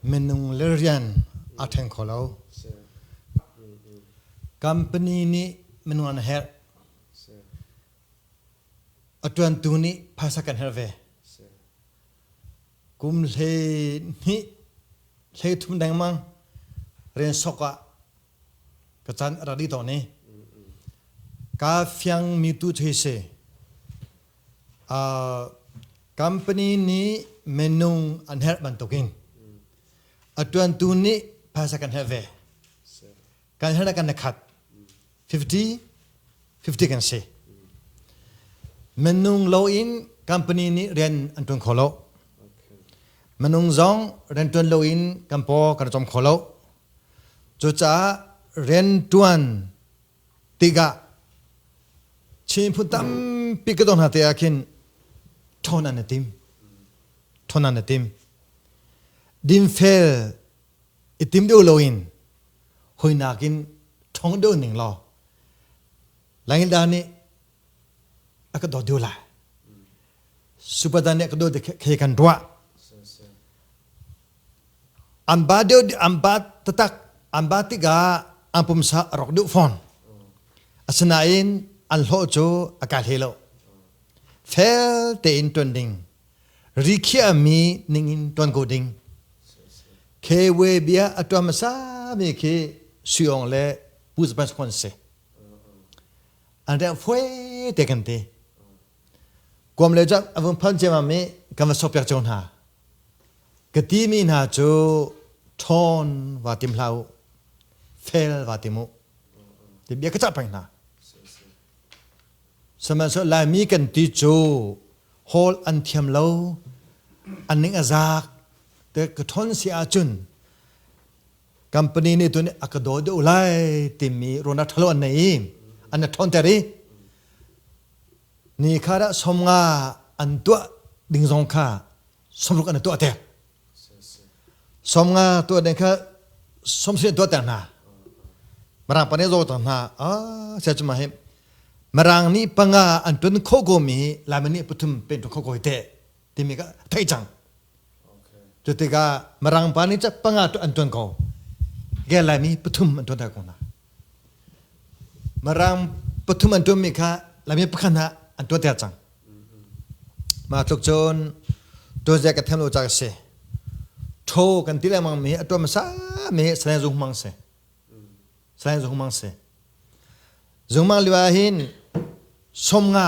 Minung le rian aa ṭheng kho lo. Company nih minung an herh. A ṭuantu nih phaisa kan herh ve. Kum hlei hnih, hlei thum dengmang rian sok ah ka can a rak dih tawn i ka fiang mi tu cu hi si uh, company nih minung an herh bantukin a tuantu nih phaisa kan herh ve kan herh kan khat 50 50 kan si minung lo in company nih rian an tuan kho lo minung zong rian tuan lo in kan po kan com kho lo Cucaah rianṭuan tikah chihmut tampi ka tuah hna te ah khin ṭhawn an i tim. Ṭhawn an i tim. Dinfel i tim deuh loin hawinak in ṭhawng deuh ning law langilda nih a ka do deu la supadan nih ka do khe kan ruah an ba deu an ba tatak an ba tiga an pumsa a rok deu fon asinain an hlo cu a ka hle lo fel tein tuan ding rikhiah mi ning in tuan ko ding kw bia atuam sa mi khi suong le pu japan se an reng foe te kan ti kuam le cun a vung phon ciamam i kan va sokpiak cio hna ka ti mi hna cu ṭhawn va tim hlah u fel va tim u ti bia ka cah peng hna sihmanhsehlaw laimi kan ti cu hol an thiam lo an ning a zaak te ka ṭhawn si ahcun Company nih tun a ka daw deuh lai timi run a ṭhalo an nei i an a ṭhawnter i ni kha dah som nga an tuah ding zong kha somruk an i tuahter. Som nga tuah ding kha somsi an tuahter hna. Mirang pa nih zawter hna. Ah, sai cuma hi Mirang nih panga an tun kho gomi hi Laimi nih pathum pen tun kho ko hi teh. timi ka thei cang cu tikah mirang pa nih panga tu an tuan ko ge laimi pathum an tuan ko na mirang pathum an tuanmi kha lami pakhat hna an tuan ter cang mah tluk cun tuanzia ka them lo ca ka si tho kan ti lengmang mi atuan masa mi salai zung mang se salai zung mang se zung mang liwa hin som nga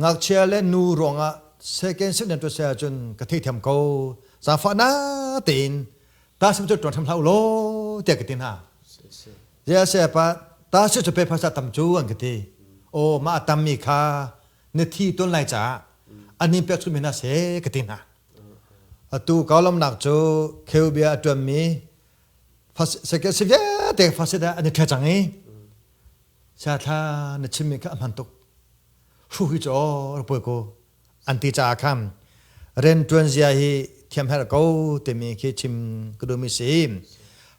ngakchia le nu ruangah second sentence tuah sai ahcun ka theithiam ko zafa na tein ta sim cu tuan hram hlau lo tiah ka ti hna ya se pa ta sim cu pe phasa tam cu an ka ti o ma tam mi kha na thi ton lai caah anin pek su mi na se ka ti hna atu kaulam nak cu kheubia atuan mi second si vialte fasida ani the chang i sa thla na chimmi kha a hman tuk hru hi cu rak poi ko an ti caah khan riantuan zia hi thiam herh ko timi khi chim ka duhmi si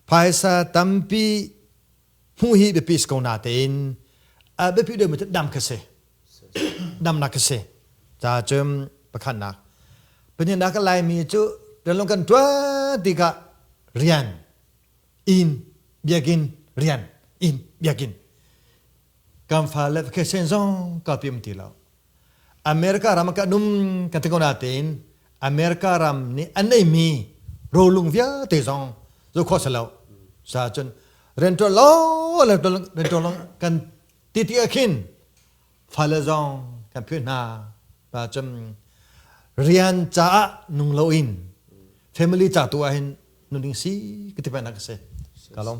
phaisa tampi hmuh hi biapi si ko na tein a biapi deuhmi cu dam kha si damnak kha si ta cun pakhatnak panihnak a laimi cu ṭanlung kan ṭuan tikah rian in biakinn rian in biakinn kan fale vacation zong ka pim ti lo america ram kan um kan te ko na tein america ram nih an nei mi rolung vialte zong zo kho se lo sa chun rental lo rental rental kan ti ti akhin fale zong kan phu hna pa chum rian cha nung lo in family cha tu ahin nuning si katipa nak se kalom